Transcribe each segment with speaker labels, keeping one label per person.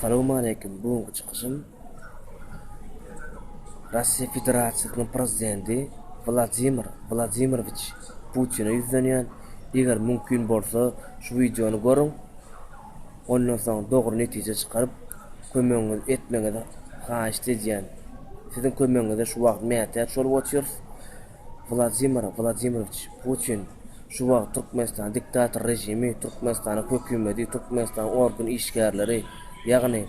Speaker 1: Salowmaleýkim, bu günki çykyşym Russiýa Federasiýasynyň Prezidenti Wladimir Wladimirowiç Putine ýüzlenýän, eger mümkin bolsa şu wideony görüň, ondan soň dogry netije çykaryp kömegiňizi etmegiňizi haýyşt edýän. Siziň kömegiňize şu wagt mätäç bolup otyrys. Wladimir Wladimirowiç Putin şu wagt Türkmenistan diktator režimi, Türkmenistanyň hökümedi, Türkmenistanyň organ işgärleri, ýagny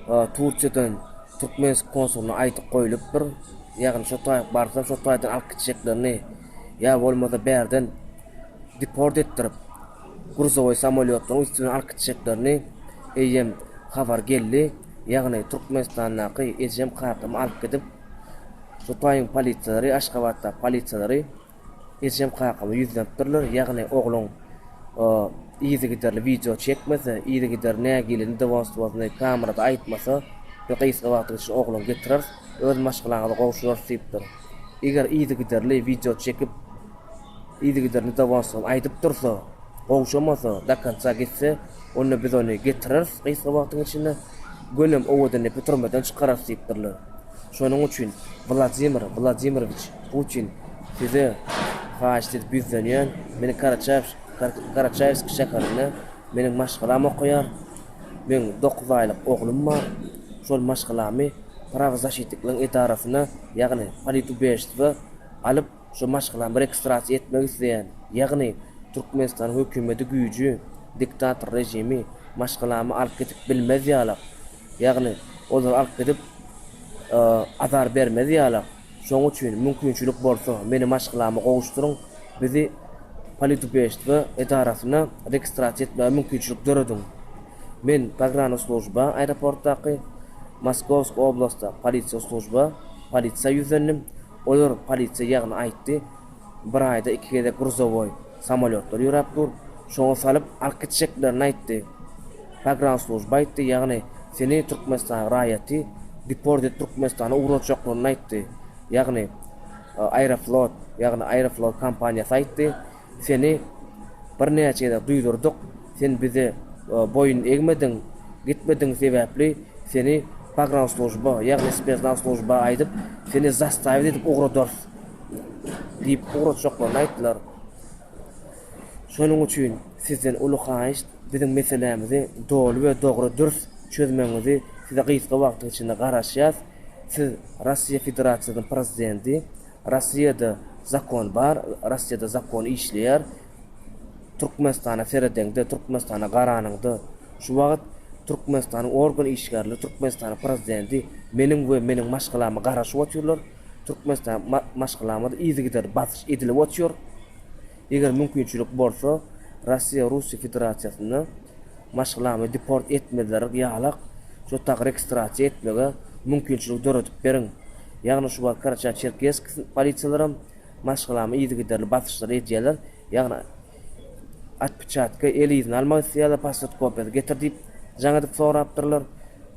Speaker 1: Turkiýadan Türkmensk konsulyna aýdyp goýlupdyr, ýagny şo taý barsam şo taýdan alyp gitjeklerini ýa bolmasa bärden deport etdirip gruzowoý samolýotlaryň üsti bilen alyp gitjeklerini eýýäm habar geldi, ýagny Türkmenistandaky ejem kakamy alyp gidip, Hytaýyň polisiýalary Aşgabatdaky polisiýalary ejem kakama ýüzlenipdirler, ýagny ogluň yzygiderli wideo çekmese, yzygiderli nägilini dowamstwosny kamerada aýtmasa, biz gysga wagtyň içinde ogluňy getireris, öz maşgalaňyza gowşurarys diýipdir. Eger yzygiderli wideo çekip, yzygiderli dowamstwosny aýdyp dursa, gowşamasa, do konca gitse, onda biz ony getireris gysga wagtyň içinde, gönem owadan epi türmeden çykararys diýipdirler. Şonuň üçin Wladimir Wladimirowiç Putin size haýyşt edip ýüzlenýän, meni Karaçaýewsk şäherinde meniň maşgalam okaýar, meň dokuz aýlyk oglum bar, şol maşgalamy Prawozaşitnikligiň edarasyna, ýagny Politubiežstwo alyp, şo maşgalamy registrasiýa etmek isleýän, ýagny Türkmenistanyň hökümeti güýji, diktator režimi maşgalamy alyp gidip bilmez ýalak, Ýagny, olary alyp gidip, azar bermez ýala. Şonuň üçin, mümkinçilik bolsa, meni maşgalama gowuşdyryň, bizi Politubestwo edarasyna registrasiýa etmäge mümkinçilik dörediň. Men Pogranoslujba, aeroportdaky, Moskowsk oblastda, Polisiýa slujba, polisiýa ýüzlendim. Olar polisiýa ýagny aýtdy, Bir aýda iki gezek gruzowoý samolýotlar ýöräp dur, şoňa salyp alyp gitjeklerini aýtdy. Pogrannslujba aýtdy, ýagny seni Türkmenistanyň raýaty deport edip Türkmenistana ugratjaklygyny aýtdy. Ýagny Aeroflot, ýagny Aeroflot kompaniýasy aýtdy, seni birnäçe gezek duýdurdyk, sen bize boýun egmediň, gitmedigiň sebäpli seni pogrannslujba, ýagny spesnaz slujba aýdyp, seni zastawit edip ugradarys. Diýip, ugrajjaklaryny aýtdylar. Şonuň üçin sizden uly haýyşt, biziň meselämizi doly we dogry dürs çözmegiňizi size gysga wagtyň içinde garaşýas. Siz Russiýa Federasiýasynyň Prezidenti. Russiýada zakon bar, Russiýada zakon işleýär. Türkmenistana seredeňde, Türkmenistana garanyňda, şu wagt Türkmenistanyň organ işgärleri, Türkmenistanyň Prezidenti meniň we meniň maşgalama garaşyp otyrlar. Türkmenistan maşgalamyza yzygiderli basyş edilip otyr. Eger mümkinçilik bolsa, Rossiýa Russiýa Federasiýasynda maşgalamy deport etmezlerik ýalak şo tak registrasiýa etmege mümkinçilik döredip beriň. Ýagny şu wagt Karaçar-Çerkesk polisiýalaram maşgalamy yzygiderli basyşlar edýäler, ýagny atpiçatka el yzyny almak isleýäler, pasport kopiýasy getir diýip jaň edip sorapdyrlar.